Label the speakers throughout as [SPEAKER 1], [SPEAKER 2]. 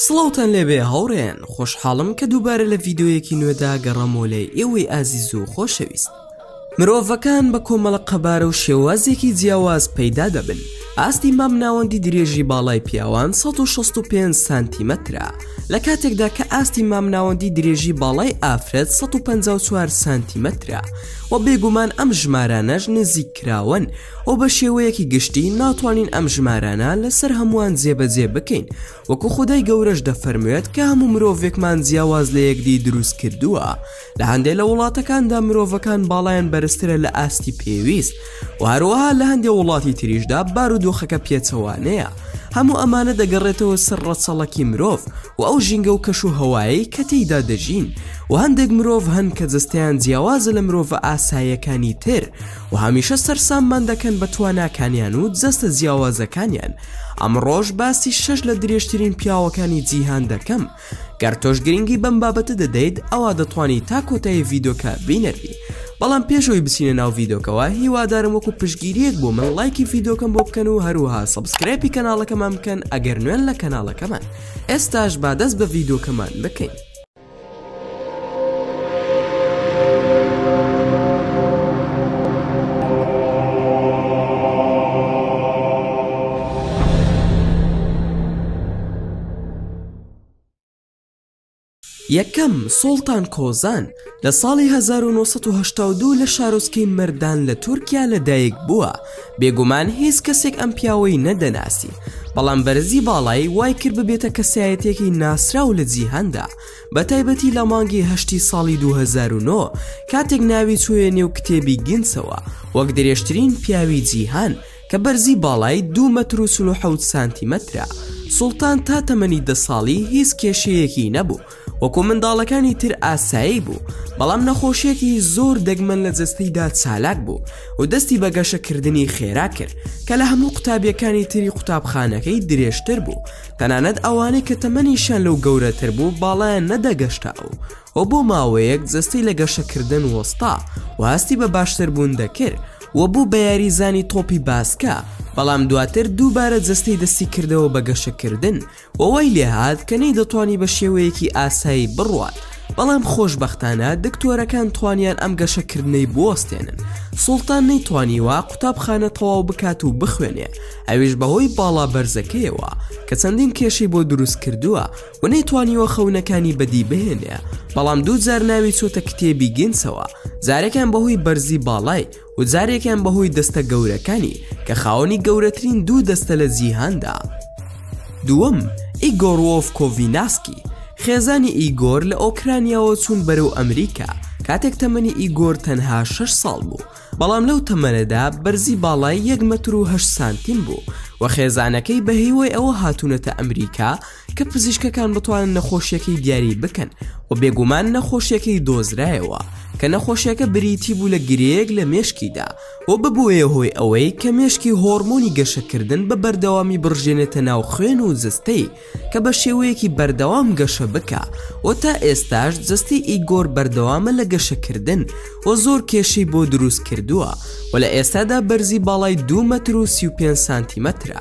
[SPEAKER 1] سڵاوتان لێبێ هاوڕێن خۆشحاڵم کە دووبارە لە ڤیددیویەکی نوێدا گەڕەمۆ لە ئێوەی ئازیز و خۆشەویست مرۆڤەکان بە کۆمەڵە قەبارە و شێوازێکی جیاواز پەیدا دەبن ئاستی مام ناوەندی درێژی باڵای پیاوان 1665 سانتیمەترە لە کاتێکدا کە ئاستی مام ناوەندی درێژی باڵای ئافرەت 154 سانتیمەترە و بێگومان ئەم ژمارانەش نزیک کراوەن و بە شێوەیەکی گشتی ناتوانین ئەم ژمارانە لەسەر هەمووان جێبەجێ بکەین وەکو خودای گەورەش دەفەرموێت کە هەموو مرۆڤێکمان جیاواز لە یەکدی دروست کردووە لە هەندێک لە وڵاتەکاندا مرۆڤەکان باڵیان بەرزترە لە ئاستی پێویست و هەروەها لە هەندێک وڵاتی تریشدا بارودۆخەکە پێچەوانەیە هەموو ئەمانە دەگەڕێتەوە سەر ڕەچەڵەکی مرۆڤ و ئەو ژینگە و کەش و هەوایی کە تێیدا دەژین و هەندێک مرۆڤ هەن کە جستیان جیاوازە لە مرۆڤە ئاسایەکانی تر و هەمیشە سەرساممان دەکەن بە تواناکانیان و جەستە جیاوازەکانیان ئەمڕۆژ باسی شەش لە درێژترین پیاوەکانی جیهان دەکەم گەر تۆش گرنگی بەم بابەتە دەدەیت ئەوە دەتوانی تا کۆتایی ڤیدۆکە بینەری بەڵام پێشەوەی بچینە ناو ڤیدۆکەوە هیوادارم وەکو پشگیریەک بۆ من لایکی ڤیدۆکەم بۆ بکەن و هەروها سبسکرایپی کەناڵەکەمان بکەن ئەگەر نوێن لە کەناڵەکەمان ئێستاش بادەست بە ڤیدۆکەمان بکەین یەکەم، سوڵتان کۆزان، لە ساڵی هەزار و نۆ سەد و هەشتا و دوو لە شارۆچکەی مەردان لە تورکیا لەدایکبووە، بێگومان هیچ کەسێک ئەم پیاوەی نەدەناسی بەڵام بەرزی باڵایی وای کرد ببێتە کەسایەتێکی ناسراو لە جیهاندا بە تایبەتی لە مانگی هەشتی ساڵی 2009 کاتێک ناوی چوێ نێو کتێبی گینسەوە وەک درێژترین پیاوی جیهان کە بەرزی باڵای دو مەتر و سلوحەوت سانتیمەترە سوڵتان تا تەمەنی دە ساڵی هیچ کێشەیەکی نەبوو وەکو منداڵەکانی تر ئاسایی بوو بەڵام نەخۆشیەکی زۆر دەگمەن لە جستەیدا چالاک بوو و دەستی بە گەشەکردنی خێرا کرد کە لە هەموو قوتابیەکانی تری قوتابخانەکەی درێژتر بوو تەنانەت ئەوانەی کە تەمەنیشان لەو گەورەتر بوو باڵیان نەدەگەشتا ئەو و بۆ ماوەیەک جستەی لە گەشەکردن وەستا و هەستی بە باشتر بوون دەکرد و بوو بە یاریزانی تۆپی باسکە بەڵام دواتر دووبارە جستەی دەستی کردەوە بە گەشەکردن و وای لێهات کە نەیدەتوانی بە شێوەیەکی ئاسایی بڕوات، بەڵام خۆشبەختانە دکتۆرەکان توانیان ئەم گەشەکردنەی بوەستێنن، سوڵتان نەیتوانیوە قوتابخانە تەواو بکات و بخوێنێ، ئەویش بەهۆی باڵا بەرزەکەیەوە کە چەندین کێشەی بۆ دروست کردووە و نەیتوانیوە خەونەکانی بەدی بهێنێ، بەڵام دوو جار ناوی چۆتە کتێبی گینسەوە، جارێکیان بەهۆی بەرزی باڵای، و جارێکیان بەهۆی دەستە گەورەکانی کە خاوەنی گەورەترین دوو دەستە لە جیهاندا دووەم ئیگۆرۆف کۆڤیناسکی خێزانی ئیگۆر لە ئۆکرانیاوە چوون بەرەو ئەمریکا کاتێک تەمەنی ئیگۆر تەنها 6 ساڵ بوو بەڵام لەو تەمەنەدا بەرزی باڵای 1 متر و سانتیم بوو و خێزانەکەی بە هیوای ئەوە هاتوونەتە ئەمریکا کە پزیشکەکان بتوانن نەخۆشیەکەی دیاری بکەن و بێگومان نەخۆشیەکەی دۆزرایەوە کە نەخۆشیەکە بریتی بوو لە گرەیەک لە مێشکیدا و ببووە هۆی ئەوەی کە مێشکی هۆرمۆنی گەشەکردن بە بەردەوامی بڕژێنێتە ناو خوێن و جستەی کە بە شێوەیەکی بەردەوام گەشە بکە و تا ئێستاش جستی ئیگۆر بەردەوامە لە گەشەکردن و زۆر کێشەی بۆ دروست کردووە و لە ئێستادا بەرزی باڵای دو مەتر و 35 سانتیمەترە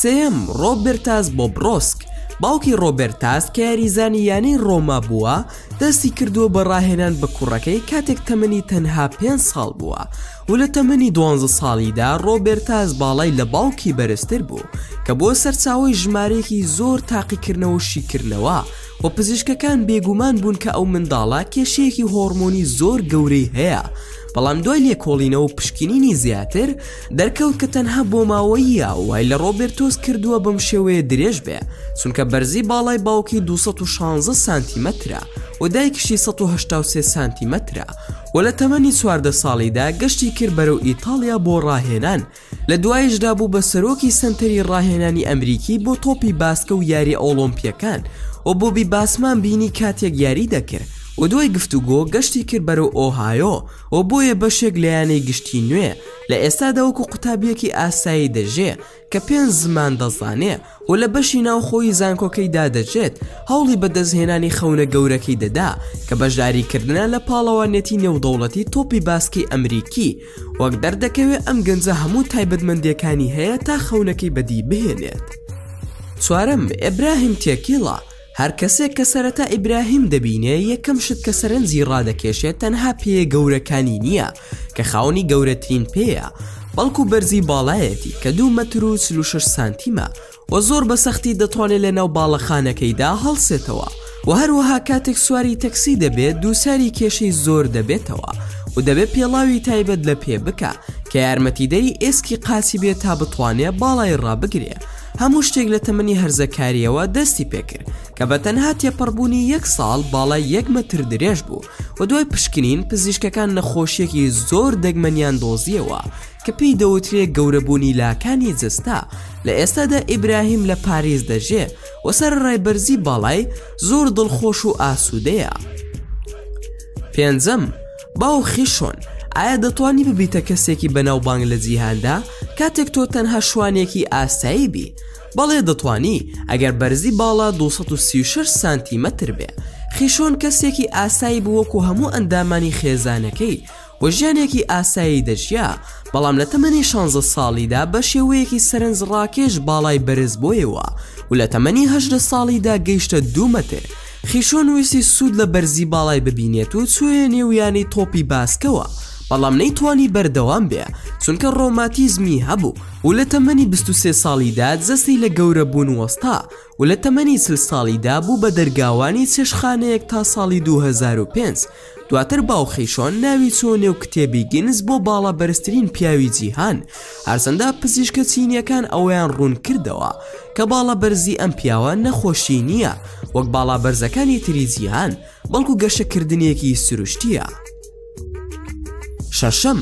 [SPEAKER 1] سێیەم، ڕۆبێرتاس بۆبرۆسک، باوکی ڕۆبێرتاس کە یاریزانی یانەی ڕۆما بووە، دەستی کردووە بە ڕاهێنان بە کوڕەکەی کاتێک تەمەنی تەنها پێنج ساڵ بووە و لە تەمەنی دوانزە ساڵیدا ڕۆبێرتاس باڵای لە باوکی بەرزتر بوو کە بووە سەرچاوەی ژمارەیەکی زۆر تاقیکردنەوە و شیکردنەوە و پزیشکەکان بێگومان بوون کە ئەو منداڵە کێشەیەکی هۆڕمۆنی زۆر گەورەی هەیە بەڵام دوای لێکۆڵینەوە و پشکنینی زیاتر دەرکەوت کە تەنها بۆماوەییە وای لە ڕۆبێرتۆس کردووە بەم شێوەیە درێژ بێ چونکە بەرزی باڵای باوکی 216 سانتیمەترە و دایکشی 1970 سانتیمەترە و لە تەمەنی چواردە ساڵیدا گەشتی کرد بەرەو ئیتالیا بۆ ڕاهێنان لە دوایشدا بوو بە سەرۆکی سنتەری ڕاهێنانی ئەمریکی بۆ تۆپی باسکە و یاری ئۆڵۆمپیەکان و بۆبی باسمان بینی کاتێک یاری دەکرد و دوای گفتوگۆ گەشتی کرد بەرەو ئۆهایۆ و بۆیە بەشێک لە یانەی گشتی نوێ لە ئێستادا وەکو قوتابیەکی ئاسایی دەژێ کە پێنج زمان دەزانێ و لە بەشی ناوخۆی زانکۆکەی دادەژێت هەوڵی بەدەستهێنانی خەونە گەورەکەی دەدا کە بەشداریکردە لە پاڵەوانەتی نێودەوڵەتی تۆپی باسکی ئەمریکی وەک دەردەکەوێت ئەم گەنجە هەموو تایبەتمەندیەکانی هەیە تا خەونەکەی بەدی بهێنێت چوارم ئەبراهیم تێکیڵە هەر کەسێک کە سەرەتا ئیبراهیم دەبینێ یەکەم شت کە سەرنجی ڕادەکێشێت تەنها پێیە گەورەکانی نییە کە خاوەنی گەورەترین پێیە بەڵکو بەرزی باڵایەتی کە دوو مەتر و چل و شەش سانتیمە و زۆر بە سەختی دەتوانێت لە ناو باڵەخانەکەیدا هەڵسێتەوە و هەروەها کاتێک سواری تەکسی دەبێت دووچاری کێشەی زۆر دەبێتەوە و دەبێت پێڵاوی تایبەت لە پێ بکە کە یارمەتیدەری ئێسکی قاچی بێت تا بتوانێت باڵای ڕابگرێ هەموو شتێک لە تەمەنی هەرزەکارییەوە دەستی پێکرد کە بە تەنها تێپەڕبوونی یەک ساڵ باڵای یەک مەتر درێژ بوو و دوای پشکنین پزیشکەکان نەخۆشیەکی زۆر دەگمەنیان دۆزیەوە کە پێی دەوترێ گەورەبوونی لاکانی جستا لە ئێستادا ئیبراهیم لە پاریس دەژێ و سەر ڕێبەرزی باڵای زۆر دڵخۆش و ئاسوودەیە پێنجەم باوخی شۆن ئایا دەتوانی ببیتە کەسێکی بەناوبانگ لە جیهاندا کاتێک تۆ تەنها شوانێکی ئاسایی بی بەڵێ دەتوانی ئەگەر بەرزی باڵا 236 سانتیمەتر بێ خیشۆن کەسێکی ئاسایی بووەکو هەموو ئەندامانی خێزانەکەی و ژیانێکی ئاسایی دەژیا بەڵام لە تەمەنی 16 ساڵیدا بە شێوەیەکی سەرنج ڕاکێش باڵای بەرز بۆیەوە و لە تەمەنی هەشدە ساڵیدا گەیشتە دوومەتر خیشۆن ویستی سوود لە بەرزی باڵای ببینێت و چوویە نێو یانەی تۆپی باسکەوە، بەڵام نەیتوانی بەردەوام بێ، چونکە ڕۆماتیزمی هەبوو و لە تەمەنی بیست و سێ ساڵیدا جەستەی لە گەورەبوون وەستا و لە تەمەنی چل ساڵیدا بوو بە دەرگاوانی چێشتخانەیەک تا ساڵی دوو هەزار و پێنج دواتر باو خیشۆن ناوی چووە نێو کتێبی گینس بۆ باڵا بەرزترین پیاوی جیهان هەرچەندە پزیشکە چینیەکان ئەوەیان ڕوون کردەوە کە باڵا بەرزی ئەم پیاوە نەخۆشی نییە وەک باڵا بەرزەکانی تری جیهان بەڵکو گەشەکردنێکی سروشتیە شەشەم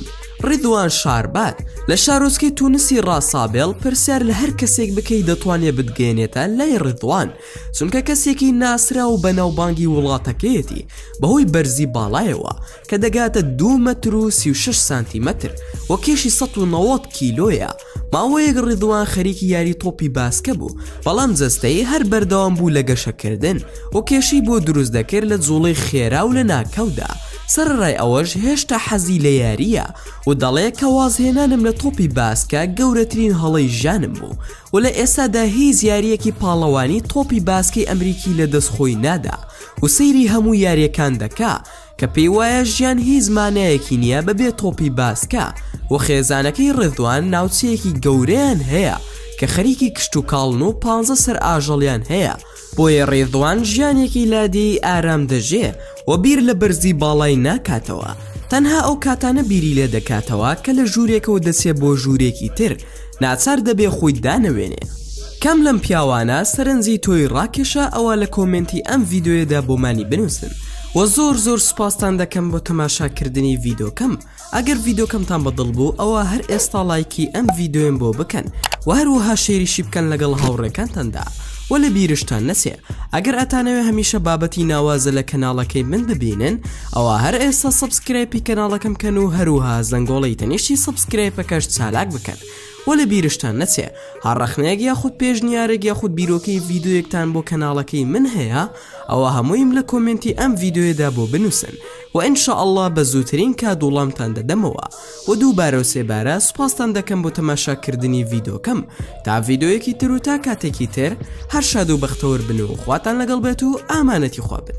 [SPEAKER 1] ڕیدوان شاربات لە شارۆچکەی تونسی ڕاسابێڵ پرسیار لە هەر کەسێک بکەی دەتوانێت بتگەێنێتە لای ڕیدوان چونکە کەسێکی ناسرا و بەناوبانگی وڵاتەکەیەتی بەهۆی بەرزی باڵایەوە کە دەگاتە دو مەتر و 36 سانتیمەتر وە کێشی 1970 کیلۆیە ماوەیەک ڕیدوان خەریکی یاری تۆپی باسکە بوو بەڵام جەستەی هەر بەردەوام بوو لە گەشەکردن و کێشی بۆ دروست دەکرد لە جوڵی خێرا و لە ناکەودا سەرڕای ئەوەش هێشتا حەزی لە یاریە و دەڵێ کە وازهێنانم لە تۆپی باسکە گەورەترین هەڵەی ژانم بوو و لە ئێستادا هیچ یاریەکی پاڵەوانی تۆپی باسکەی ئەمریکی لە دەست خۆی نادا و سەیری هەموو یاریەکان دەکا کە پێی وایە ژیان هیچ مانایەکی نییە بەبێ تۆپی باسکە و خێزانەکەی ڕێدوان ناوچەیەکی گەورەیان هەیە کە خەریکی کشت و کاڵن و پ سەر ئاژەڵیان هەیە بۆیە ڕێزوان ژیانێکی لادێی ئارام دەژێ و بیر لە بەرزی باڵای ناکاتەوە تەنها ئەو کاتانە بیری لێ دەکاتەوە کە لە ژوورێکەوە دەچێ بۆ ژوورێکی تر ناچار دەبێ خۆی دانەوێنێ کام لەم پیاوانە سەرنجی تۆی ڕاکێشا ئەوە لە کۆمێنتی ئەم ڤیددیوێدا بۆمانی بنووسن و زۆر زۆر سوپاستان دەکەم بۆ تەماشاکردنی ڤیدۆکەم ئەگەر ڤیدۆکەمتان بە دڵ بوو ئەوە هەر ئێستا لایکی ئەم ڤیددیوێن بۆ بکەن و هەروەها شێریشی بکەن لەگەڵ هاوڕێکانتاندا و لە بیرشتان نەچێ ئەگەر ئەتانەوێ هەمیشە بابەتی ناوازە لە کەناڵەکەی من ببینن ئەوە هەر ئێستا سبسکرایپی کەناڵەکەم کەن و هەروها زەنگۆڵی تەنیشتی سبسکرایپەکەش چالاک بکەن و لە بیرشتان نەچێ هەڕەخنەیەک یاخود پێشنیارێک یاخود بیرۆکەی ڤیددیوەکتان بۆ کەناڵەکەی من هەیە ئەوە هەموویم لە کۆمنتی ئەم ڤیددیوێدا بۆ بنووسن وە ان شاء اللە بە زووترین کات وڵامتان دەدەمەوە وە دووبارە و سێبارە سوپاستان دەکەم بۆ تەماشا کردنی ڤیدۆکەم تا ڤیدۆیەکی تر و تا کاتێکی تر هەر شاد و بەختەوەر بن و خواتان لەگەڵ بێت و ئامانەتی خوا بن